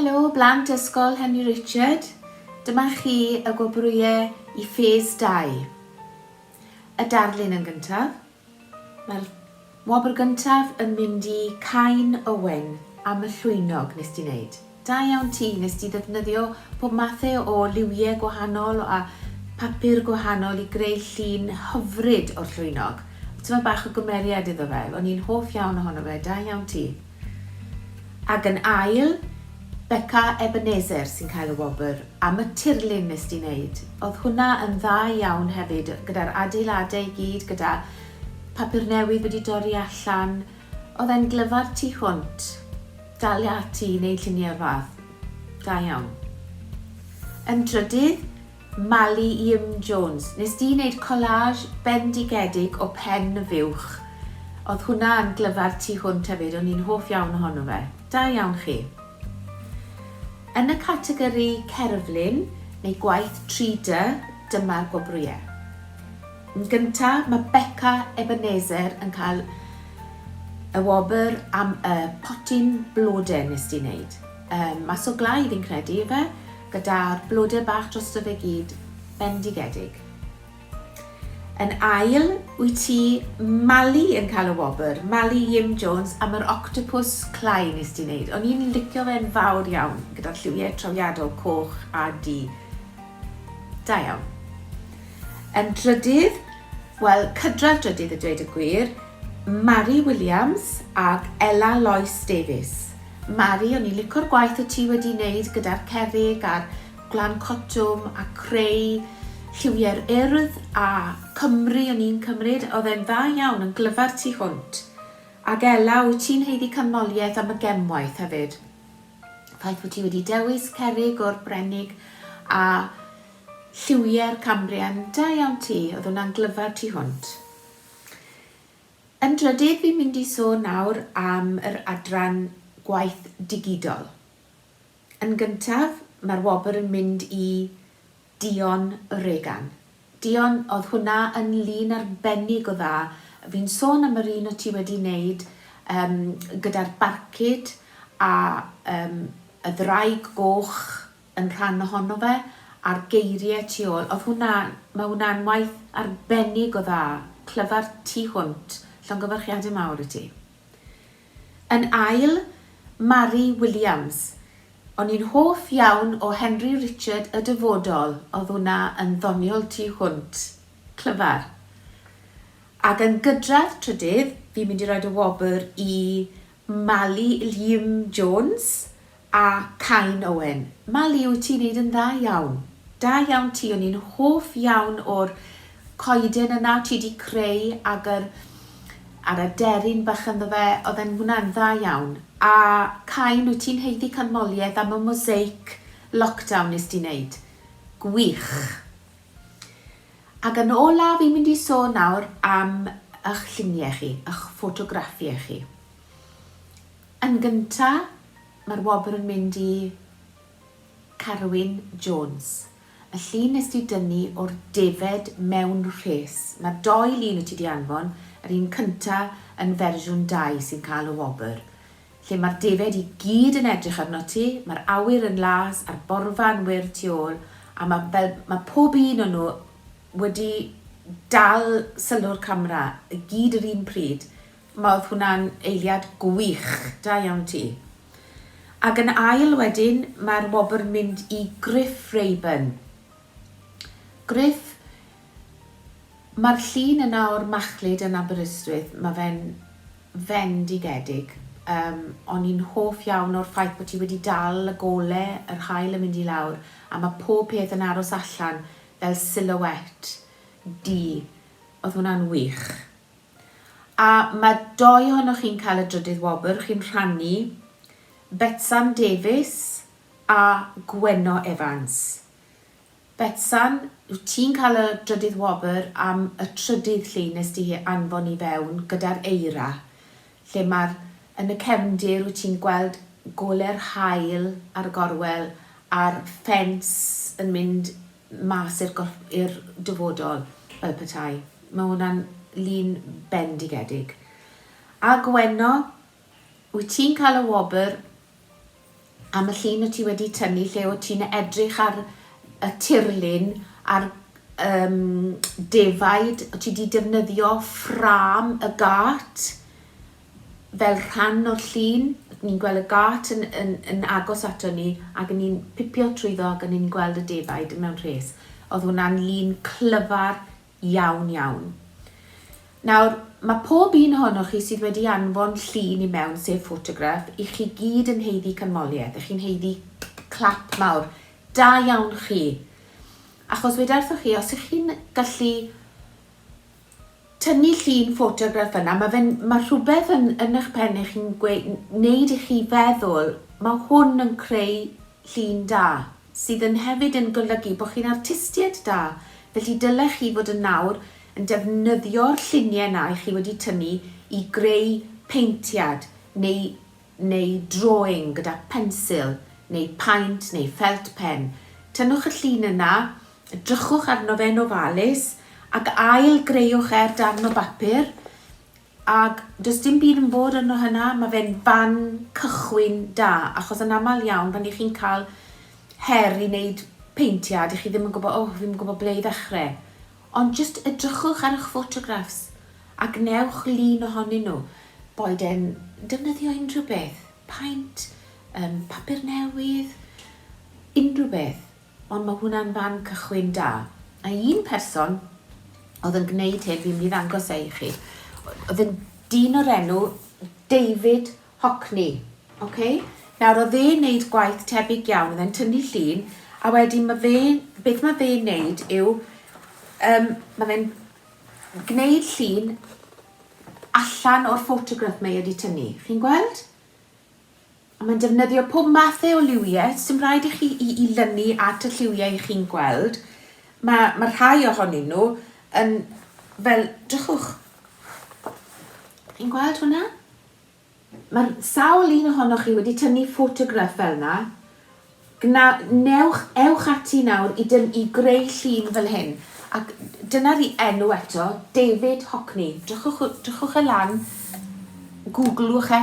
Helo, blant Ysgol Henry Richard. Dyma chi y gwobrwyau i ffes 2. Y darlun yn gyntaf. Mae'r wobr gyntaf yn mynd i Cain Owen am y llwynog nes di neud. Da iawn ti, nes di ddefnyddio pob mathe o liwie gwahanol a papur gwahanol i greu llun hyfryd o'r llwynog. Tymed bach o gymeriad iddo fe, o'n i'n hoff iawn ohono fe, da iawn ti. Ac yn ail, Beca Ebenezer sy'n cael y wobr am y tirlun nes di neud. Odd hwnna yn dda iawn hefyd gyda'r adeilade i gyd gyda papur newydd wedi dorri allan. Odd e'n glyfar tu hwnt. Dalia ati i neud llunie o'r fath. Da iawn. Yn drydydd, Mali Iym Jones, nes di neud collage bendigedig o pen y fuwch. Odd hwnna yn glyfar tu hwnt hefyd, o'n i'n hoff iawn ohono fe. Da iawn chi. Yn y categori cerflun neu gwaith 3D, dyma'r gwobrwye. Yn gynta, ma Beca Ebenezer yn cael y wobr am y potyn blode nes di neud. Yym, mas o glai fi'n credu, ife? gyda'r blode bach drosto fe gyd, bendigedig. Yn ail, wyt ti, Mali, yn cael y wobr, Mali Jim Jones, am yr octopus clai nes di wneud. O'n i'n licio fe'n fawr iawn, gyda'r lliwiau trawiadol coch a du. Da iawn. Yn drydydd, wel, cydradd drydydd y dweud y gwir, Mari Williams ac Ella Lois Davies. Mari, o'n i'n lico'r gwaith o ti wedi neud gyda'r cerrig a'r gwlan cotwm a creu lliwiau'r urdd a Cymru o'n i'n cymryd, oedd e'n dda iawn, yn glyfar tu hwnt. Ac Ela, wyt ti'n haeddu canmoliaeth am y gemwaith hefyd. Ffaith fod ti wedi dewis cerrig o'r Brenig a lliwiau'r Cambrian, da iawn ti, oedd hwnna'n glyfar tu hwnt. Yn drydydd fi'n mynd i sôn nawr am yr adran gwaith digidol. Yn gyntaf mae'r wobr yn mynd i Dion Regan. Dion, oedd hwnna yn lun arbennig o dda. Fi'n sôn am yr un o ti wedi wneud gyda'r barcud a y ddraig goch yn rhan ohono fe a'r geirie tu ôl odd hwnna ma' hwnna'n waith arbennig o dda, clyfar tu hwnt, llongyfarchiade mawr i ti. Yn ail, Mari Williams, o'n i'n hoff iawn o Henry Richard y Dyfodol, odd hwnna yn ddoniol tu hwnt, clyfar. Ag yn gydradd trydydd fi'n mynd i roid y wobr i Mali Llyym Jones A Cain Owen. Mali wyt ti'n neud yn dda iawn. Da iawn ti o'n i'n hoff iawn o'r coeden yna ti di creu ag yr a'r aderyn bach ynddo fe oedd e'n hwnna'n dda iawn a Cain wyt ti'n haeddu canmoliaeth am y mosaic lockdown nes di neud gwych ag yn ola fi'n mynd i sôn nawr am ych llunie chi ych ffotograffiau chi Yn gynta, mae'r wobr yn mynd i Carwyn Jones, y llun nes di dynnu o'r defaid mewn rhes. Mae'r dou lun wyt ti di anfon, yr un cynta yn fersiwn dau sy'n cael y wobr. Lle mae'r defaid i gyd yn edrych arnot ti, mae'r awyr yn las a'r borfa yn wyrdd tu ôl, a mae fel, mae pob un o nhw wedi dal sylw'r camera i gyd yr un pryd. Ma oedd hwnna'n eiliad gwych, da iawn ti. Ag yn ail wedyn mae'r wobr yn mynd i Gruff Rayburn. Gruff, mae'r llun yna o'r machlud yn Aberystwyth, mae fe'n fendigedig. Um, o'n i'n hoff iawn o'r ffaith bod ti wedi dal y gole, yr hael yn mynd i lawr, a mae pob peth yn aros allan fel silhouette di. Oedd hwnna'n wych. A mae dou ohonoch chi'n cael y drydydd wobr, chi'n rhannu Betsan Davies a Gwenno Evans. Betsan, wyt ti'n cael y drydydd wobr am y trydydd llun nes di hi anfon i fewn gyda'r eira, lle mae'r, yn y cefndir wyt ti'n gweld gole'r haul ar y gorwel a'r ffens yn mynd mas i'r gorff- i'r dyfodol, fel petai. Mae hwnna'n lun bendigedig. A Gwenno, wyt ti'n cael y wobr am y llun o ti wedi tynnu lle o ti'n edrych ar y tirlun a'r um, defaid, o ti wedi defnyddio ffrâm y gât, fel rhan o'r llun, ni'n gweld y gât yn yn yn agos ato ni ag yn ni'n pipio trwyddo ag o'n ni'n gweld y defaid mewn rhes. O'dd hwnna'n lun clyfar iawn iawn. Nawr, ma' pob un ohonoch chi sydd wedi anfon llun i mewn, sef ffotograff, i chi gyd yn haeddu canmoliaeth, y'ch chi'n haeddu clap mawr. Da iawn chi! Achos weda wrthoch chi, os y'ch chi'n gallu tynnu llun ffotograff yna, mae fe'n, mae rhywbeth yn yn eich pen eich chi'n gwe- wneud i chi feddwl, mae hwn yn creu llun da, sydd yn hefyd yn golygu bod chi'n artistiaid da, felly dylech chi fod yn nawr yn defnyddio'r lluniau yna i chi wedi tynnu i greu peintiad neu neu drawing gyda phensil neu paent neu felt pen. Tynnwch y llun yna Edrychwch arno fe'n ofalus ac ail greuwch e'r darn o bapur ac does dim byd yn bod arno hynna, mae fe'n fan cychwyn da achos yn aml iawn pan i chi'n cael her i wneud peintiad i chi ddim yn gwybod, oh, fi'n yn gwybod ble i ddechrau. Ond jyst edrychwch ar eich ffotograffs a gwnewch lun ohonyn nhw. Boed e'n defnyddio unrhyw beth, paent, um, papur newydd, unrhyw beth. Ond mae hwnna'n fan cychwyn da. A un person oedd yn gwneud hyn, fi'n mynd i ddangos e i chi, oedd yn dyn o'r enw David Hockney. Okay? Nawr, oedd e'n wneud gwaith tebyg iawn, oedd e'n tynnu llun, a wedyn mae fe, beth mae fe'n wneud yw, um, mae fe'n gwneud llun allan o'r ffotograff mae wedi tynnu. Chi'n gweld? Mae'n defnyddio pob mathau o liwiau, sdim rhaid i chi i i lynu at y lliwiau i chi'n gweld. Mae mae rhai ohonyn nhw yn fel, drychwch. Chi'n gweld hwnna? Mae'r sawl un ohonoch chi wedi tynnu ffotograff fel yna. Gna, newch, ewch ati nawr i, dyn, i greu llun fel hyn. Ac dyna'r i enw eto, David Hockney. Drychwch, drychwch e lan, gwglwch e.